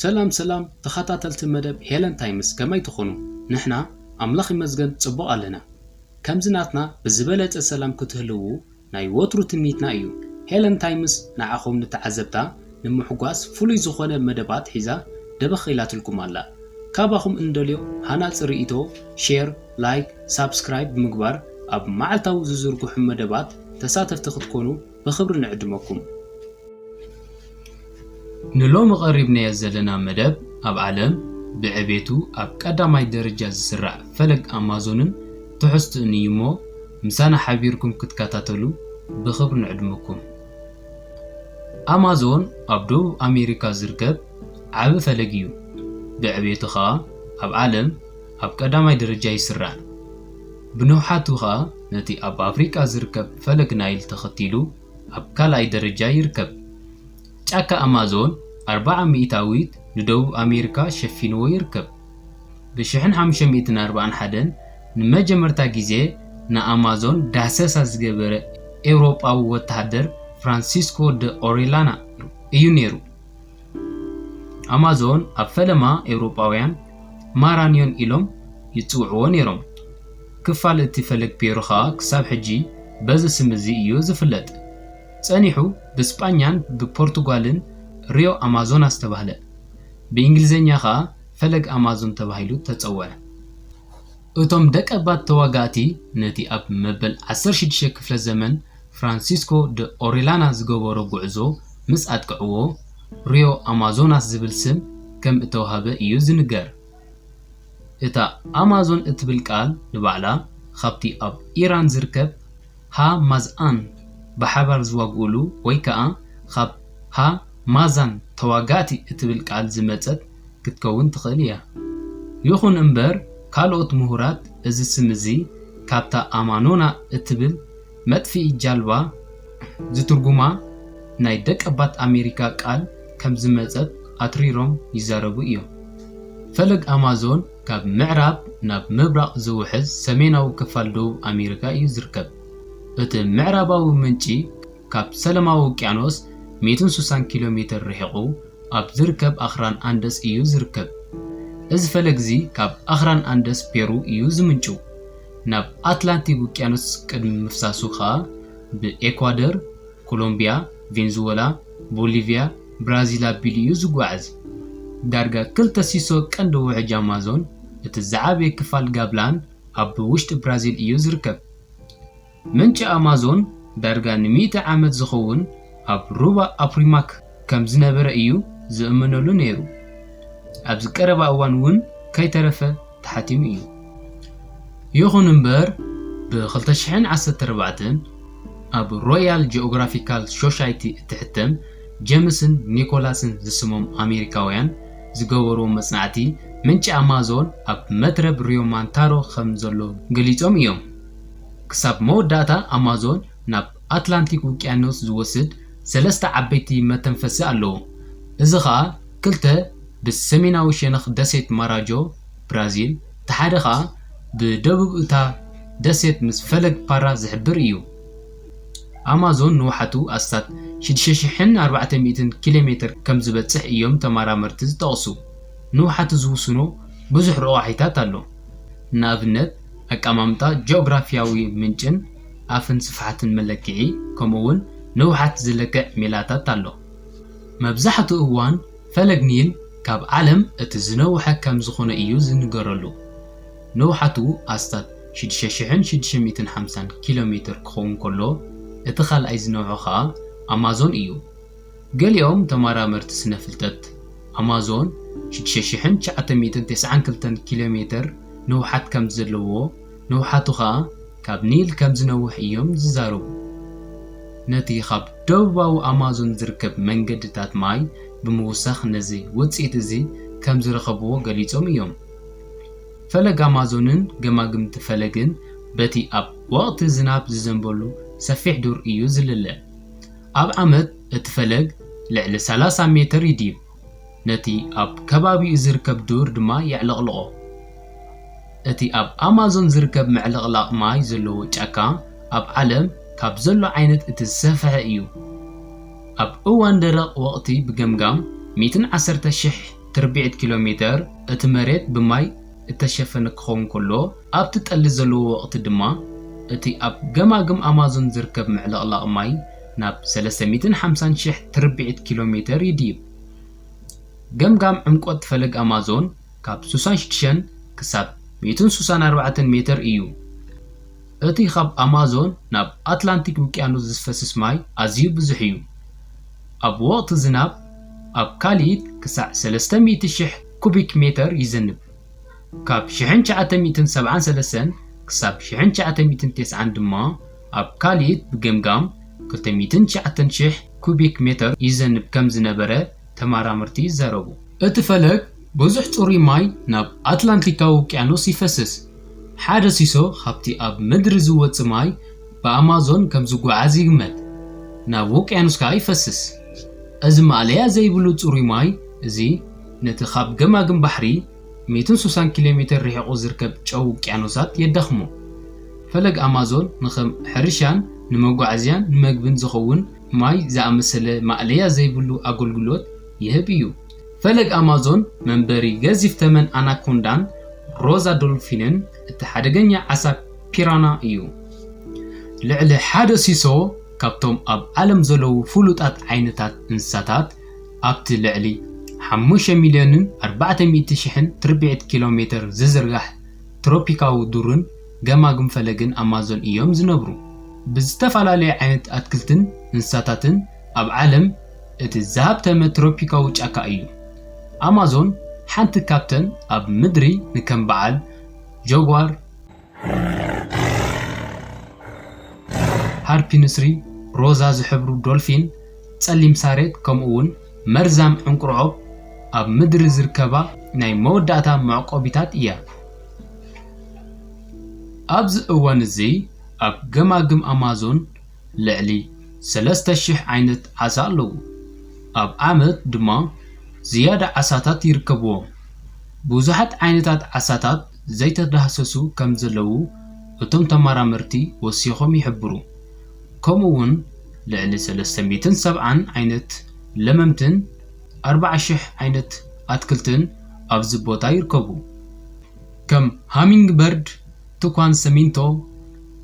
ሰላም ሰላም ተኸታተልቲ መደብ ሄለን ታይምስ ከመይ ትኾኑ? ንሕና ኣምላኽ ይመስገን ጽቡቕ ኣለና። ከምዚ ናትና ብዝበለጸ ሰላም ክትህልዉ ናይ ወትሩ ትምኒትና እዩ። ሄለን ታይምስ ንዓኹም ንተዓዘብታ ንምሕጓስ ፍሉይ ዝኾነ መደባት ሒዛ ደበኽ ኢላትልኩም ኣላ። ካባኹም እንደልዮ ሃናጺ ርእይቶ፣ ሼር፣ ላይክ፣ ሳብስክራይብ ብምግባር ኣብ መዓልታዊ ዝዝርግሑ መደባት ተሳተፍቲ ክትኮኑ ብኽብሪ ንዕድመኩም። ንሎሚ ቀሪብናዮ ዘለና መደብ ኣብ ዓለም ብዕቤቱ ኣብ ቀዳማይ ደረጃ ዝስራዕ ፈለግ ኣማዞንን ትሕዝትኡን እዩሞ ምሳና ሓቢርኩም ክትከታተሉ ብኽብሪ ንዕድመኩም። ኣማዞን ኣብ ደቡብ ኣሜሪካ ዝርከብ ዓቢ ፈለግ እዩ። ብዕቤቱ ከኣ ኣብ ዓለም ኣብ ቀዳማይ ደረጃ ይስራዕ። ብንውሓቱ ከኣ ነቲ ኣብ ኣፍሪቃ ዝርከብ ፈለግ ናይል ተኸቲሉ ኣብ ካልኣይ ደረጃ ይርከብ። ጫካ ኣማዞን ኣርብዓ ሚእታዊት ንደቡብ ኣሜሪካ ሸፊንዎ ይርከብ። ብ ሽሕን ሓሙሽተ ሚእትን ኣርብዓን ሓደን ንመጀመርታ ግዜ ንኣማዞን ዳህሰሳ ዝገበረ ኤውሮጳዊ ወተሃደር ፍራንሲስኮ ደ ኦሬላና እዩ ነይሩ። ኣማዞን ኣብ ፈለማ ኤውሮጳውያን ማራንዮን ኢሎም ይጽውዕዎ ነይሮም፣ ክፋል እቲ ፈለግ ፔሩ ኸኣ ክሳብ ሕጂ በዚ ስም እዚ እዩ ዝፍለጥ። ጸኒሑ ብስጳኛን ብፖርቱጋልን ሪዮ ኣማዞናስ ተባህለ፣ ብእንግሊዝኛ ኸኣ ፈለግ ኣማዞን ተባሂሉ ተጸውዐ። እቶም ደቀባት ተዋጋእቲ ነቲ ኣብ መበል ዓሰርተ ሽዱሽተ ክፍለ ዘመን ፍራንሲስኮ ደ ኦሪላና ዝገበሮ ጉዕዞ ምስ ኣጥቀዕዎ፣ ሪዮ ኣማዞናስ ዝብል ስም ከም እተዋህበ ኢዩ ዝንገር። እታ ኣማዞን እትብል ቃል ንባዕላ ኻብቲ ኣብ ኢራን ዝርከብ ሃ ማዝኣን ብሓባር ዝዋግኡሉ ወይ ከኣ ኻብ ሃ ማዛን ተዋጋእቲ እትብል ቃል ዝመጸት ክትከውን ትኽእል እያ። ይኹን እምበር ካልኦት ምሁራት እዚ ስም እዚ ካብታ ኣማኖና እትብል መጥፍኢ ጃልባ ዝትርጉማ ናይ ደቀባት ኣሜሪካ ቃል ከም ዝመጸት ኣትሪሮም ይዛረቡ እዮም። ፈለግ ኣማዞን ካብ ምዕራብ ናብ ምብራቕ ዝውሕዝ ሰሜናዊ ክፋል ደቡብ ኣሜሪካ እዩ ዝርከብ። እቲ ምዕራባዊ ምንጪ፣ ካብ ሰለማዊ ውቅያኖስ ሚእትን ሱሳን ኪሎ ሜተር ርሒቑ ኣብ ዝርከብ ኣኽራን ኣንደስ እዩ ዝርከብ። እዚ ፈለግ'ዚ ካብ ኣኽራን ኣንደስ ፔሩ እዩ ዝምንጭው። ናብ ኣትላንቲክ ውቅያኖስ ቅድሚ ምፍሳሱ ከኣ ብኤኳደር፣ ኮሎምቢያ፣ ቬንዝወላ፣ ቦሊቪያ፣ ብራዚል ኣቢሉ እዩ ዝጓዓዝ። ዳርጋ ክልተ ሲሶ ቀንዲ ውሕጅ ኣማዞን፣ እቲ ዝዓበየ ክፋል ጋብላን ኣብ ውሽጢ ብራዚል እዩ ዝርከብ። ምንጪ ኣማዞን ዳርጋ ንሚእቲ ዓመት ዝኸውን ኣብ ሩባ ኣፕሪማክ ከም ዝነበረ እዩ ዝእመነሉ ነይሩ፣ ኣብዚ ቀረባ እዋን እውን ከይተረፈ ተሓቲሙ እዩ። ይኹን እምበር፣ ብ ክልተ ሽሕን ዓሰርተ ኣርባዕተን ኣብ ሮያል ጂኦግራፊካል ሾሻይቲ እትሕተም ጀምስን ኒኮላስን ዝስሞም ኣሜሪካውያን ዝገበርዎ መጽናዕቲ ምንጪ ኣማዞን ኣብ መትረብ ሪዮማንታሮ ከም ዘሎ ገሊጾም እዮም። ክሳብ መወዳእታ ኣማዞን ናብ ኣትላንቲክ ውቅያኖስ ዝወስድ ሰለስተ ዓበይቲ መተንፈሲ ኣለዎ፣ እዚ ኸኣ ክልተ ብሰሜናዊ ሸነኽ ደሴት ማራጆ፣ ብራዚል፣ እቲ ሓደ ኸኣ ብደቡብ እታ ደሴት ምስ ፈለግ ፓራ ዝሕብር እዩ። ኣማዞን ንውሓቱ ኣስታት ሽዱሽተ ሽሕን ኣርባዕተ ሚእትን ኪሎሜተር ከም ዝበጽሕ እዮም ተመራመርቲ ዝጠቕሱ። ንውሓቱ ዝውስኖ ብዙሕ ረቛሒታት ኣሎ። ንኣብነት፣ ኣቀማምጣ ጂኦግራፊያዊ ምንጭን ኣፍን ስፍሓትን መለክዒ ከምኡውን ንውሓት ዝለክዕ ሜላታት ኣሎ። መብዛሕትኡ እዋን ፈለግ ኒል ካብ ዓለም እቲ ዝነውሐ ከም ዝዀነ እዩ ዝንገረሉ፣ ንውሓቱ ኣስታት ሽዱሽተ ሽሕን ሽዱሽተ ሚእትን ሓምሳን ኪሎሜተር ክኸውን ከሎ፣ እቲ ካልኣይ ዝነውሐ ኸኣ ኣማዞን እዩ። ገሊኦም ተመራመርቲ ስነ-ፍልጠት፣ ኣማዞን ሽዱሽተ ሽሕን ትሽዓተ ሚእትን ተስዓን ክልተን ኪሎ ሜተር ንውሓት ከም ዘለዎ፣ ንውሓቱ ኸኣ ካብ ኒል ከም ዝነውሕ እዮም ዝዛረቡ። ነቲ ኻብ ደቡባዊ ኣማዞን ዝርከብ መንገድታት ማይ ብምውሳኽ ነዚ ውጽኢት እዚ ከም ዝረኸብዎ ገሊጾም እዮም። ፈለግ ኣማዞንን ገማግምቲ ፈለግን በቲ ኣብ ወቕቲ ዝናብ ዝዘንበሉ ሰፊሕ ዱር እዩ ዝልለ። ኣብ ዓመት እቲ ፈለግ ልዕሊ ሰላሳ ሜተር ይድይብ፣ ነቲ ኣብ ከባቢኡ ዝርከብ ዱር ድማ የዕለቕልቖ። እቲ ኣብ ኣማዞን ዝርከብ ምዕልቕላቕ ማይ ዘለዎ ጫካ ኣብ ዓለም ካብ ዘሎ ዓይነት እቲ ዝሰፍሐ እዩ። ኣብ እዋን ደረቕ ወቕቲ ብገምጋም ሚእትን ዓሰርተ ሽሕ ትርብዒት ኪሎሜተር እቲ መሬት ብማይ እተሸፈነ ክኸውን ከሎ፣ ኣብቲ ጠሊ ዘለዎ ወቕቲ ድማ እቲ ኣብ ገማግም ኣማዞን ዝርከብ ምዕልቕላቕ ማይ ናብ ሰለስተ ሚእትን ሓምሳን ሽሕ ትርብዒት ኪሎ ሜተር ይድይብ። ገምጋም ዕምቈት ፈለግ ኣማዞን ካብ ሱሳን ሽድሸን ክሳብ ሚእትን ሱሳን ኣርባዕተን ሜተር እዩ። እቲ ኻብ ኣማዞን ናብ ኣትላንቲክ ውቅያኖስ ዝፈስስ ማይ ኣዝዩ ብዙሕ እዩ፣ ኣብ ወቕቲ ዝናብ ኣብ ካልኢት ክሳዕ ሰለስተ ሚእቲ ሽሕ ኩቢክ ሜተር ይዝንብ። ካብ ሽሕን ትሽዓተ ሚእትን ሰብዓን ሰለስተን ክሳብ ሽሕን ትሽዓተ ሚእትን ተስዓን ድማ ኣብ ካልኢት ብገምጋም ክልተ ሚእትን ትሽዓተን ሽሕ ኩቢክ ሜተር ይዘንብ ከም ዝነበረ ተመራመርቲ ይዛረቡ። እቲ ፈለግ ብዙሕ ጽሩይ ማይ ናብ ኣትላንቲካዊ ውቅያኖስ ይፈስስ። ሓደ ሲሶ ካብቲ ኣብ ምድሪ ዝወጽእ ማይ ብኣማዞን ከም ዝጓዓዝ ይግመት፣ ናብ ውቅያኖስ ከኣ ይፈስስ። እዚ ማእለያ ዘይብሉ ጽሩይ ማይ እዚ፣ ነቲ ኻብ ገማግም ባሕሪ ሚእትን ሱሳን ኪሎ ሜተር ርሒቑ ዚርከብ ጨው ውቅያኖሳት የዳኽሞ። ፈለግ ኣማዞን ንኸም ሕርሻን ንመጓዓዝያን ንመግብን ዚኸውን ማይ ዝኣመሰለ ማእለያ ዘይብሉ ኣገልግሎት ይህብ እዩ። ፈለግ ኣማዞን መንበሪ ገዚፍ ተመን ኣናኮንዳን ሮዛ ዶልፊንን እቲ ሓደገኛ ዓሳ ፒራና እዩ። ልዕሊ ሓደ ሲሶ ካብቶም ኣብ ዓለም ዘለዉ ፍሉጣት ዓይነታት እንስሳታት ኣብቲ ልዕሊ ሓሙሽተ ሚልዮንን ኣርባዕተ ሚእቲ ሽሕን ትርብዒት ኪሎ ሜተር ዝዝርጋሕ ትሮፒካዊ ዱርን ገማግም ፈለግን ኣማዞን እዮም ዝነብሩ። ብዝተፈላለየ ዓይነት ኣትክልትን እንስሳታትን ኣብ ዓለም እቲ ዝሃብተመ ትሮፒካዊ ጫካ እዩ። ኣማዞን ሓንቲ ካብተን ኣብ ምድሪ ንከም በዓል ጃጓር፣ ሃርፒ ንስሪ፣ ሮዛ ዝሕብሩ ዶልፊን፣ ጸሊም ሳሬት ከምኡ'ውን መርዛም ዕንቊርዖብ ኣብ ምድሪ ዝርከባ ናይ መወዳእታ መዕቆቢታት እያ። ኣብዚ እዋን እዚ ኣብ ገማግም ኣማዞን ልዕሊ ሰለስተ ሽሕ ዓይነት ዓሳ ኣለዉ፣ ኣብ ዓመት ድማ ዝያዳ ዓሳታት ይርከብዎም። ብዙሓት ዓይነታት ዓሳታት ዘይተዳህሰሱ ከም ዘለዉ እቶም ተመራመርቲ ወሲኾም ይሕብሩ። ከምኡ'ውን ልዕሊ ሰለስተ ሚእትን ሰብዓን ዓይነት ለመምትን ኣርባዓ ሽሕ ዓይነት ኣትክልትን ኣብዚ ቦታ ይርከቡ። ከም ሃሚንግበርድ፣ ትኳን ሰሚንቶ፣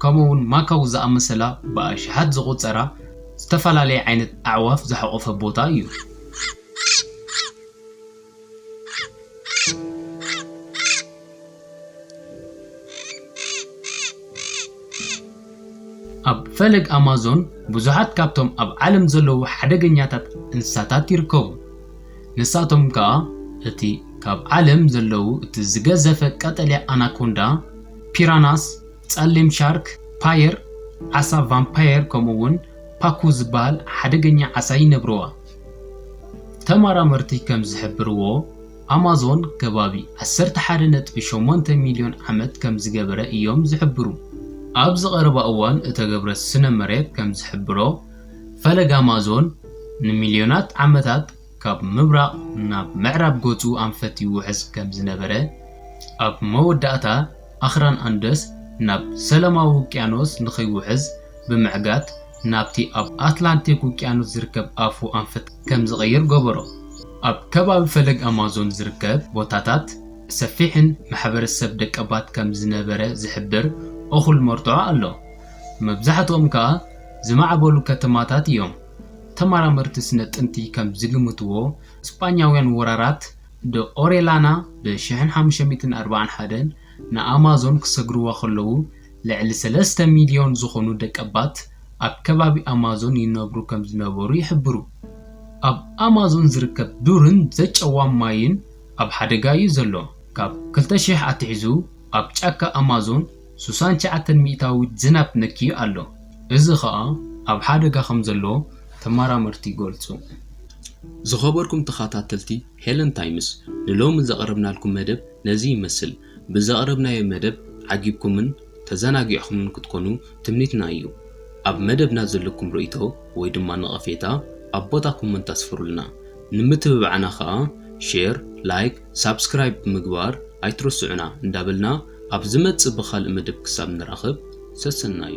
ከምኡ'ውን ማካው ዝኣመሰላ ብኣሽሓት ዝቑጸራ ዝተፈላለየ ዓይነት ኣዕዋፍ ዝሓቖፈ ቦታ እዩ። ኣብ ፈለግ ኣማዞን ብዙሓት ካብቶም ኣብ ዓለም ዘለዉ ሓደገኛታት እንስሳታት ይርከቡ። ንሳቶም ከኣ እቲ ካብ ዓለም ዘለዉ እቲ ዝገዘፈ ቀጠልያ ኣናኮንዳ፣ ፒራናስ፣ ጸሊም ሻርክ፣ ፓየር፣ ዓሳ ቫምፓየር ከምኡ'ውን ፓኩ ዝበሃል ሓደገኛ ዓሳ ይነብርዋ። ተመራመርቲ ከም ዝሕብርዎ፣ ኣማዞን ከባቢ ዓሰርተ ሓደ ነጥቢ ሸሞንተ ሚልዮን ዓመት ከም ዝገበረ እዮም ዝሕብሩ። ኣብዚ ቀረባ እዋን እተገብረ ስነ መሬት ከም ዝሕብሮ፣ ፈለግ ኣማዞን ንሚልዮናት ዓመታት ካብ ምብራቕ ናብ ምዕራብ ገጹ ኣንፈት ይውሕዝ ከም ዝነበረ፣ ኣብ መወዳእታ ኣኽራን ኣንደስ ናብ ሰላማዊ ውቅያኖስ ንኺውሕዝ ብምዕጋት፣ ናብቲ ኣብ ኣትላንቲክ ውቅያኖስ ዝርከብ ኣፉ ኣንፈት ከም ዝቕይር ገበሮ። ኣብ ከባቢ ፈለግ ኣማዞን ዝርከብ ቦታታት ሰፊሕን ማሕበረሰብ ደቀባት ከም ዝነበረ ዝሕብር እኹል መርትዖ ኣሎ፣ መብዛሕትኦም ከኣ ዝማዕበሉ ከተማታት እዮም። ተመራመርቲ ስነ ጥንቲ ከም ዝግምትዎ፣ ስጳኛውያን ወራራት ደ ኦሬላና ብ ሽሕን ሓሙሽተ ሚእትን ኣርባዓን ሓደን ንኣማዞን ክሰግርዋ ከለዉ፣ ልዕሊ ሰለስተ ሚልዮን ዝኾኑ ደቀባት ኣብ ከባቢ ኣማዞን ይነብሩ ከምዝነበሩ ይሕብሩ። ኣብ ኣማዞን ዝርከብ ዱርን ዘጨዋም ማይን ኣብ ሓደጋ እዩ ዘሎ። ካብ ክልተ ሽሕ ኣትሒዙ ኣብ ጫካ ኣማዞን ሱሳን ትሽዓተ ሚእታዊት ዝናብ ነክዩ ኣሎ፣ እዚ ኸኣ ኣብ ሓደጋ ከምዘሎ ተመራመርቲ ይገልጹ። ዝኸበርኩም ተኸታተልቲ ሄለን ታይምስ ንሎሚ ዘቕረብናልኩም መደብ ነዚ ይመስል። ብዘቕረብናዮ መደብ ዓጊብኩምን ተዘናጊዕኹምን ክትኮኑ ትምኒትና እዩ። ኣብ መደብና ዘለኩም ርእይቶ ወይ ድማ ነቐፌታ ኣብ ቦታ ኮመንት ኣስፍሩልና። ንምትብባዕና ከኣ ሼር፣ ላይክ፣ ሳብስክራይብ ብምግባር ኣይትረስዑና እንዳበልና ኣብ ዝመጽእ ብኻልእ መደብ ክሳብ ንራኸብ ሰሰናዩ።